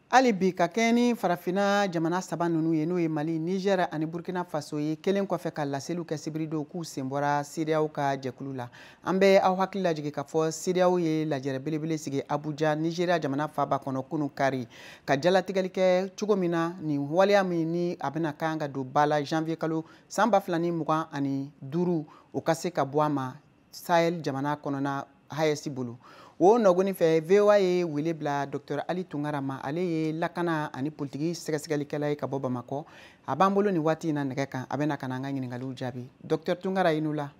hali bi ka kɛɲɛ ni farafinna jamana saba ninnu ye n'o ye mali nigɛr ani burkina faso ye kelen kɔfɛ ka laseliw kɛ sibiridon k'u sen bɔra CEDEAO ka jɛkulu la an bɛ aw hakili lajigin k'a fɔ CEDEAO ye lajɛrɛ belebele sigi abuja nigeriya jamana faaba kɔnɔ kunu kari ka jalatigɛli kɛ cogo min na nin waleya min ni a bɛna kan ka don ba la janvier kalo san ba fila ni mugan ani duuru o ka se ka bɔ a ma sahel jamana kɔnɔna AES bolo o nɔgoni fɛ VOA ye wele bila dɔktɔr ali tunkara ma ale ye lakana ani politiki sɛgɛsɛgɛlikɛla ye ka bɔ bamakɔ a b'an bolo nin waati in na nɛgɛ kan a bɛna ka na an ka ɲiningaliw jaabi dɔktɔr tunkara i ni wula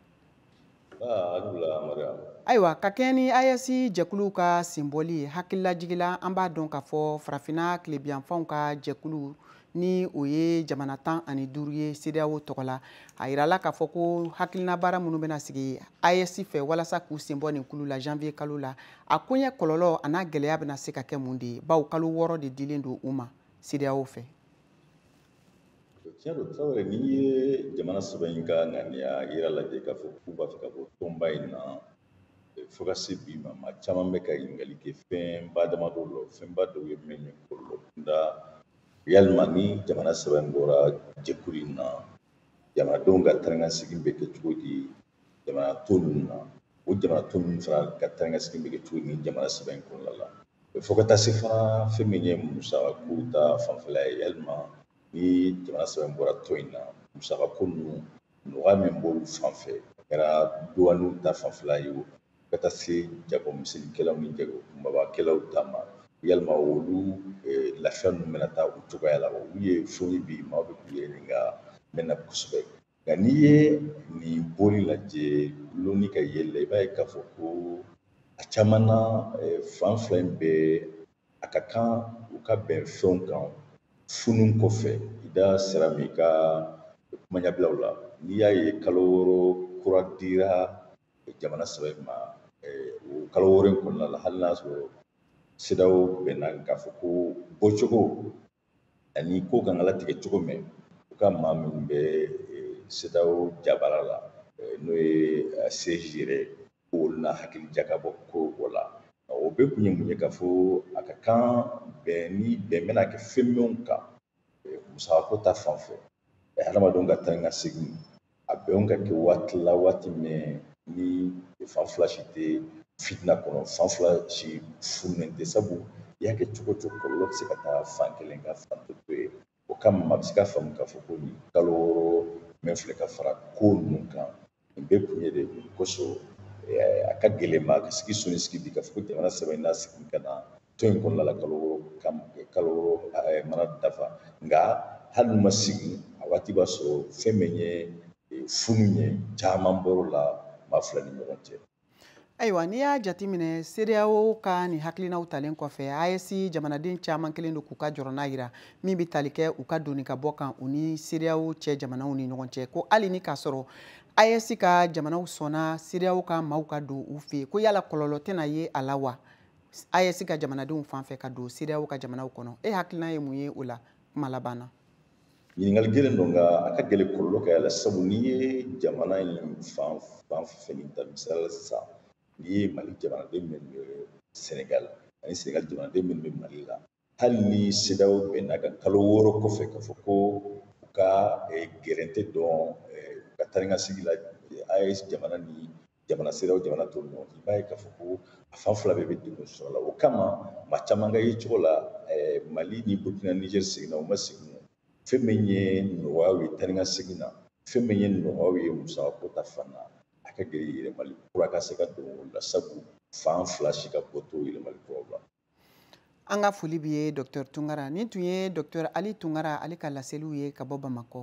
ayiwa ka kɛɲɛ ni AES jɛkulu ka senbɔli ye hakililajigin la an b'a dɔn k'a fɔ farafinna tilebinyanfanw ka jɛkulu ni o ye jamana tan ani duuru ye CEDEAO tɔgɔ la a yirala k'a fɔ ko hakilina baara minnu bɛna sigi AES fɛ walasa k'u sen bɔ nin kulu la janvier kalo la a koɲɛ kɔlɔlɔ an'a gɛlɛya bɛna se ka kɛ mun de ye bawo kalo wɔɔrɔ de dilen don u ma CEDEAO fɛ. tiɲɛ don tarawele n'i ye jamana saba in ka ŋaniya yira lajɛ k'a fɔ k'u b'a fɛ ka bɔ tɔnba in na fo ka se bi ma maa caman bɛ ka ɲininkali kɛ fɛnba damadɔ la fɛnba dɔw ye mun ye kɔlɔlɔ kunda yalima ni jamana saba in bɔra jɛkulu in na jamanadenw ka taa ni ka segin bɛ kɛ cogo di jamana tɔ ninnu na o jamana tɔ ninnu fana ka taa ni ka segin bɛ kɛ cogo di ni jamana saba in kɔnɔna la fo ka taa se fana fɛn min ye musaka ko ta fanfɛla ye yalima ni jamana saba in bɔra tɔn in na musaka ko ninnu nɔgɔya min b'olu fan fɛ a kɛra duwaniw ta fanfɛla ye o ka taa se jagomisɛnninkɛlaw ni jagokunbabakɛlaw ta ma yalima olu eh, lafiya ninnu bɛna taa u cogoya la olu ye fɛnw ye bi maaw bɛ k'u yɛrɛ ɲininka min na kosɛbɛ nka n'i ye nin bɔli lajɛ lonni ka yeli la i b'a ye k'a fɔ ko a caman na eh, fan fila in bɛɛ a ka kan u ka bɛn fɛnw kan funu kɔfɛ i da sera min ma i ka kumaɲɛbila la n'i y'a ye kalo wɔɔrɔ kura dira jamana saba in ma o kalo wɔɔrɔ in kɔnɔna la hali n'a sɔrɔ CEDEAO bɛnna k'a fɔ ko bɔcogo ani kow kan ka latigɛ cogo min u ka maa minnu bɛ CEDEAO jabara la n'o ye siège yɛrɛ olu na hakili jakabɔ ko o la o bɛɛ kun ye mun ye k'a fɔ a ka kan bɛn ni bɛn bɛna kɛ fɛn minnu kan musaka ko ta fan fɛ hadamadenw ka taa ni ka segin a bɛnw ka kɛ waati la waati min ni fan fila si tɛ fitina kɔnɔ fan fila si funulen tɛ sabu i y'a kɛ cogo o cogo kɔlɔlɔ bɛ se ka taa fan kelen ka fan tɔ to yen o kama a bɛ se ka faamu k'a fɔ ko nin kalo wɔɔrɔ min filɛ ka fara ko ninnu kan nin bɛɛ kun ye de kosɔn a ka gɛlɛn maa ka sigi so ni sigi bi k'a fɔ ko jamana saba in na segin ka na tɔn in kɔnɔna la kalo wɔɔrɔ ka kalo wɔɔrɔ mana dafa nka hali n'u ma segin a waati b'a sɔrɔ fɛn min ye funu ye caman bɔr'o la maa fila ni ɲɔgɔn cɛ ayiwa n'i y'a jateminɛ CEDEAO ka nin hakilinaw talen kɔfɛ AES jamanaden caman kɛlen don k'u ka jɔrɔna yira min bɛ tali kɛ u ka don ni ka bɔ kan u ni CEDEAO cɛ jamanaw ni ɲɔgɔn cɛ ko hali ni k'a sɔrɔ AES ka jamanaw sɔnna CEDEAO ka maaw ka don u fɛ ko yala kɔlɔlɔ tɛna ye a la wa AES ka jamanadenw fan fɛ ka don CEDEAO ka jamanaw kɔnɔ e hakilina ye mun ye o la kuma laban na ɲininkali gɛlɛn don nka a ka gɛlɛn kɔlɔlɔ ka y'a la sabu n'i ye jamana in fan fan fɛn ta misali la sisan n'i ye mali jamanaden minnu bɛ sɛnɛgali ani sɛnɛgali jamanaden minnu bɛ mali la hali ni CEDEAO bɛnn'a kan kalo wɔɔrɔ kɔfɛ k'a fɔ ko u ka eh, gɛrɛntɛ don eh, u ka taa ni ka segin la eh, AES jamana ni jamana CEDEAO jamana tɔw ni ɲɔgɔn cɛ i b'a ye k'a fɔ ko a fan fila bɛɛ bɛ degun sɔrɔ a la o kama maa caman ka yecogo la mali ni burkina niger seginna u ma segin fɛn min ye nɔgɔyaw ye taa ni ka segin na fɛn min ye nɔgɔyaw ye musakako ta fan na a ka gɛlɛn yɛlɛmali kura ka se ka don o la sabu fan fila si ka bɔ t'o yɛlɛmali kuraw la an ka foli b'i ye docteur tunkara nin tun ye docteur ali tunkara ale ka laseliw ye ka bɔ bamakɔ